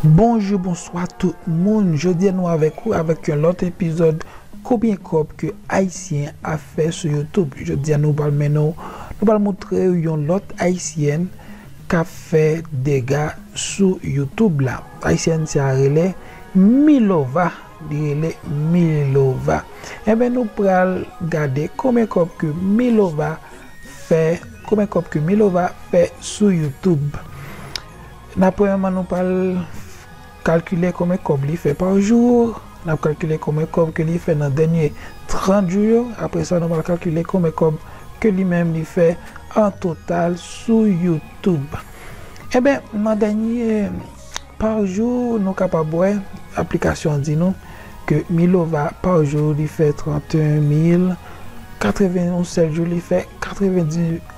Bonjou bonswa tout moun jodi nou avèk ou avèk yon lòt epizòd konbyen kòb ke ayisyen ap fè sou YouTube jodi nou pral mennen w nou pral moutre w yon lòt ayisyèn kap fè dega sou YouTube la ayisyèn sa rele Milova li rele Milova enben nou pral gade konbyen kòb ke Milova fè konbyen kòb ke Milova fè sou YouTube. Nap premyèman nou pral kalkile konbyen kòb li fè pa jou, nap kalkile konbyen kòb ke li fè nan dènye 30 jou yo, apre sa nou pral kalkile konbyen kòb ke li menm li fè an total sou youtube. Enben nan dènye pa jou nou kapab wè aplikasyon an di nou ke Milova pa jou li fè 31 mil 80 yon sèl jou li fè 90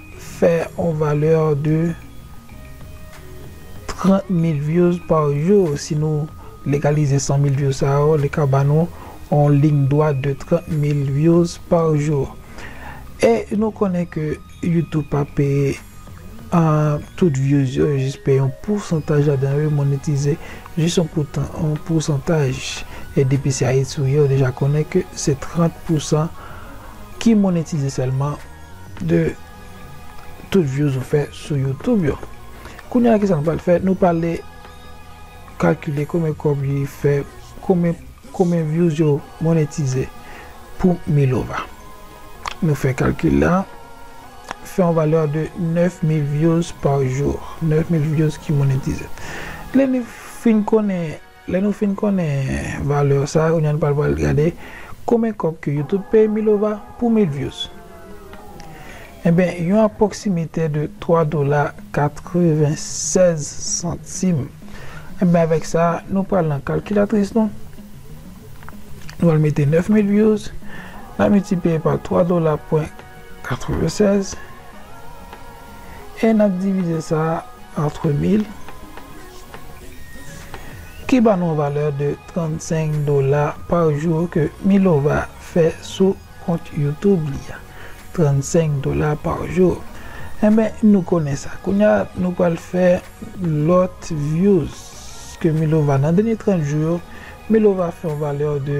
Fè on valeur de 30 mil views par jour si nou legalize 100 mil views sa yo li ka ba nou on ligne droite de 30 mil views par jour e nou konnen ke youtube pa peye tout views yo yo jis peye on poursantaj ladan yo yo monetize jis on poursantaj e depi se ayiti ou ye ou deja konnen ke se 30 pousan ki monetize sèlman. de tout views ou fè sou youtube yo kounya kisa nou pral fè nou prale kalkile konbyen kòb li fè konbyen konbyen views yo monetize pou milova nou fè kalkil la fè yon valè de 9000 views par jour 9000 views ki monetize lè nou fin konnen Lè nou fin konnen valeur sa kounya nou pral pral gade konbyen kòb ke youtube peye milova pou mil views enben yon apwoksimitè de 3 dola 96 santim enben avèk sa nou pral nan kalkilatris nou nou al mete 9000 views nap miltipliye pa 3 dola pwen 96 e n ap divize sa antre 1000 ki ba nou valè de 35 dola pa jou ke Milova fè sou kont youtube li a 35 dola pa jou enben nou konnen sa kounya nou pral fè lòt vyouz ke Milova nan dènye 30 jou yo Milova fè yon valè de.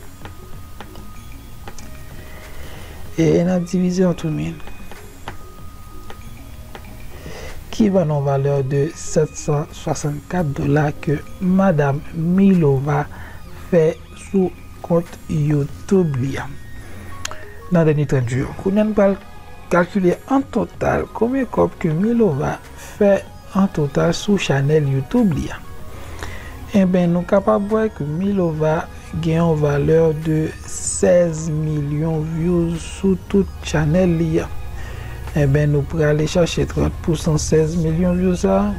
E n ap divize an tou min. Ki ban nou valè de 764 dola ke Madam Milova fè sou kont YouTube li an nan dènye 30 jou yo. Kounye a n pral kalkile an total konbyen kòb ke Milova fè an total sou chanèl YouTube li a. Enben nou kapab wè ke Milova gen yon valè de 16 milyon vyouz sou tout chanèl li a. Enben nou prale chache 30 pousan 16 milyon vyouz sa a.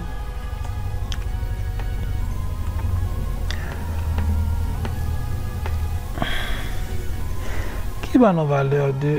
Ki ba nou valè de.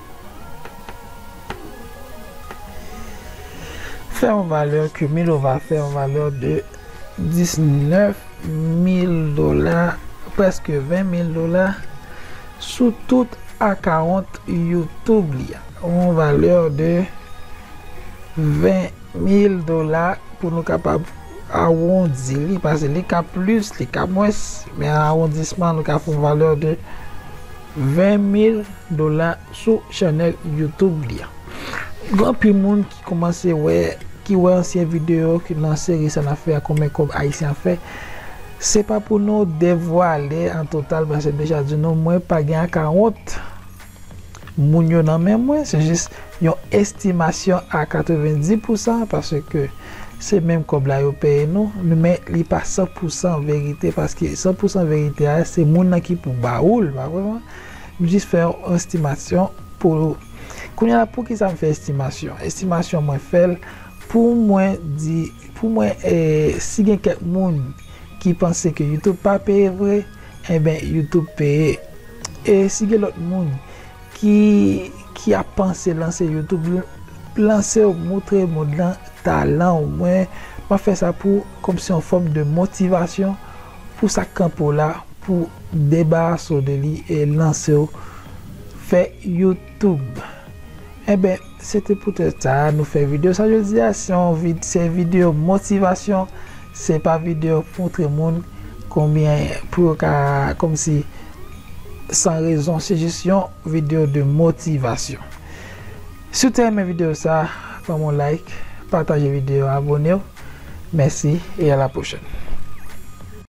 Fè yon valè ke Milova fè yon valè de 19 mil dola, prèske 20 mil dola, sou tout akawont YouTube li a. Yon valè de 20 mil dola pou nou kapab awondi li, pase li ka plis, li ka mwens, men an awondisman nou ka fè yon valè de. 20 mil dola sou channel YouTube li an. Gen anpil moun ki komanse wè, ki wè ansyen video ki nan seri sa nap fè a konbyen kob ayisyen ap fè. Se pa pou nou devwale an total paske m deja di nou mwen pa gen akawont moun yo nan men mwen, se jis yon estimasyon a 90 pousan paske. Se menm kòb la yo peye nou, men li pa san pou san verite paske san pou san verite a se moun nan ki pou ba ou l pa vre mwen m jis fè yon estimasyon pou ou kounye la poukisa m fè estimasyon estimasyon mwen fè l pou mwen di pou mwen si gen kèk moun ki panse ke youtube pa peye vre enben youtube peye e si gen lòt moun Ki ki ap panse lanse youtube lansew moutre mond lan talan ou mwen map fè sa pou kòm se yon fòm de motivasyon pou sak kanpe w la pou debarase w de li e lansew fè youtube enben se te poutèt sa nou fè video sa jodia se yon se video motivasyon. Se pa video pou montre moun konbyen pou yo ka komsi san rezon se jis yon video de motivasyon si w te renmen video sa banm yon like pataje video a abonew mèsi e a la pwochèn.